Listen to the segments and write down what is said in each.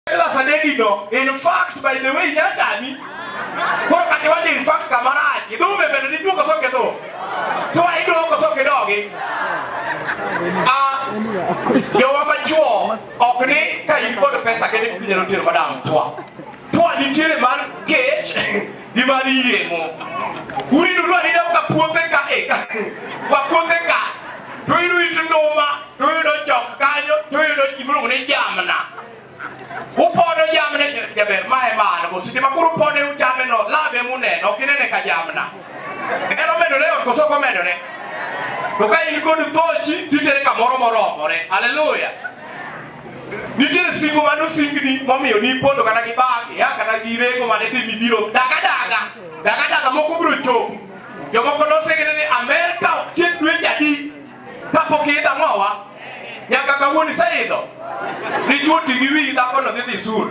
Jealous and Eddie no. In fact, by the way, nyachani. Koro kati waje in fact kamaraji. Dume bende ni duko soke to. To ai duko soke dogi. Ah, yo wama chuo ok ni ka in kod pesa kende kunyalo tero madam twa. Twa ni tire mar kech. ni mar yieng'o uriduru arida ka puothe ka eka kwa puothe ka to yudo it nduma to yudo chok kanyo to yudo gimiluongo ni jamna upodo jamna jaber ma e mano go seche ma koro upode uchame no labe muneno ok inene ka jamna en omedore ot koso ok omedore to ka in kod thochi titere kamoro moromore haleluya Nitiere singo mane osingni momiyo nipondo kata gi bag ya kata gi rego mane dhi mibiro daga daga daga daga moko biro chopo jomoko nosingni ni Amerka ok chiek dwe jadi kapok iidho ang'owa nyaka kawuono iseidho dichuo ti gi wiyi dhakono dhi dhi sur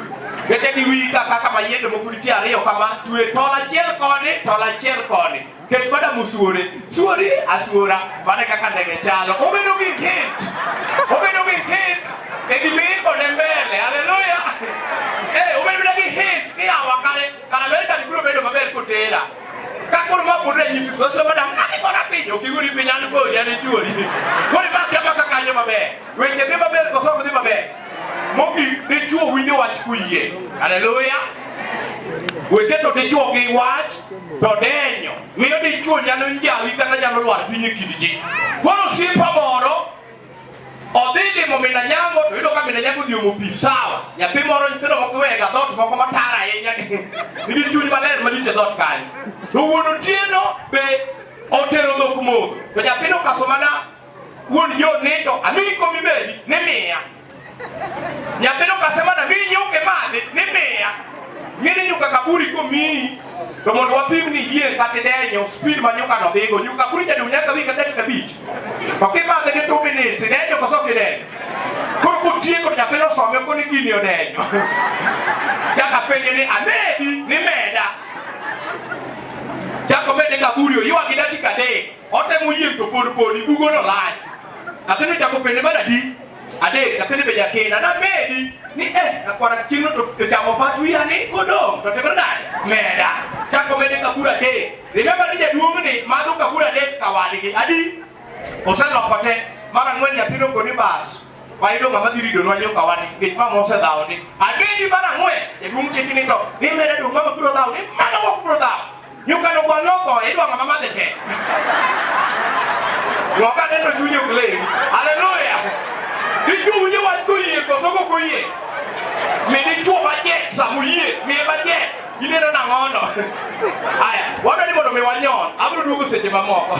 kete gi wiyi kaka kama yiende moko nitie ariyo kama twe tol achiel koni tol achiel koni Nikech bada musuore, suori asuora, mane kaka ndege chalo. Obedo gi hit. Obedo gi hit. E gima iko ne mbele. Haleluya. Eh, obedo na gi hit. Ni awa kare, kana mbele kani biro bedo maber kotera. Kakoro ma pudre nyisi soso bada, kani kona piny, okiguri piny an kodi, an ichuori. Kori ba kama kakanyo maber. Weche dhi maber, kosoko dhi maber. Mogik, dichwo winjo wach kuyie. Haleluya! Wete to dichwo gi wach to denyo. Miyo dichwo nyalo njawi kata nyalo lwar piny e kind ji. Koro osiepa moro odhi limo min Anyango to yudo ka min Anyango odhi omo pi sawa. Nyathi moro nyithindo moko iwega dhoot moko matara ahinya nigi chuny maler malich e dhoot kanyo. To wuon otieno be otero dhok modho to nyathino okaso mana Wuon jo nito amiyi komi bedi ni miya. Nyathino kasema na miyi nyuke madhi ni miya. Ng'eni nyuka kaburi komiyi to mondo wapim ni yie kata denyo speed ma nyuka no dhigo nyuka kaburi jadi unyaka wi kata dakika abich. To kimadhe gi two minutes idenyo koso kidenyo. Koro kotieko nyathino some koni gini odenyo. Jaka penje ni amedi ni meda. Chako mede kaburi oywagi dakika adek. Otemo yieng' to pod podi bugono lach. Nyathini chako pende mar adi? Adek, nyathini be jakinda. Namedi ni eh, nakwara chieng'no to to chamo pat wiya ni kodong' to timre nade? Meda. Chako mede kabur adek. Remember ni jaduong'ni madho kabur adek ka wadgi. Adi? Oseloko te. Mar ang'wen nyathino koni bas. Wayudo ng'ama dhi rido nwa joka wadgi nikech mama osedhawo ni. Agedi mar ang'wen jaduong' chiki ni to ni meda dong' mama biro dhawo ni mama ok biro dhawo. Nyuka no kwa loko idwa ngama madhe tek. Loka ne to chunyo play. Hallelujah. Dichu unye wa to yie ko soko ko yie. Me dichu ba je samu yie, me ba je. Ine no na ngono. Aya, wabedi mondo me wanyon, abro duogo seche mamoko.